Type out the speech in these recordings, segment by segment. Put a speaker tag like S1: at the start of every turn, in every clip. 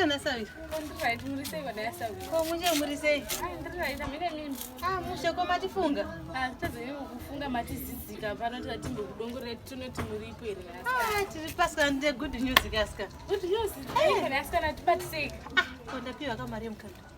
S1: kana sawi
S2: komunje muri
S1: sei
S2: mushe ko
S1: matifunga
S2: kufunga matizidzika pano tatimbe kudongorera tinoti muripo here ah, tiri pasika nde
S1: good news kaska good news
S2: eh. asikana tibatisei ah, ko ndapiwa
S1: kamari yemukanda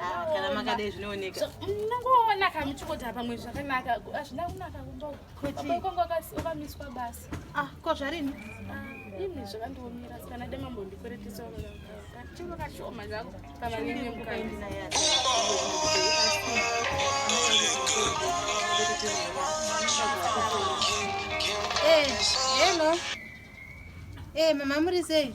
S2: Ah, kana
S1: makadai zvinooneka munongoona mm,
S2: kamuchikota pamwe zvakanaka hazvina kunaka kumbaukwangu wakamiswa basa ah, ko zvarini ah, ini
S1: zvakandiomera
S2: sikana demambo ndikweretisa kachiro kashoma
S1: zvako kamaine mukaindinaya eh, hello e mama muri sei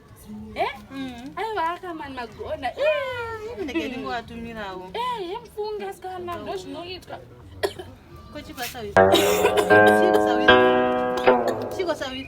S2: Eh? Mm. Aiwa akamani magona. Eh, eh ndege
S1: ndingowatumirawo. Eh, yemfunga
S2: sikana ndozvinoitwa.
S1: Kochi pasawi. Chiko sawi. Chiko sawi.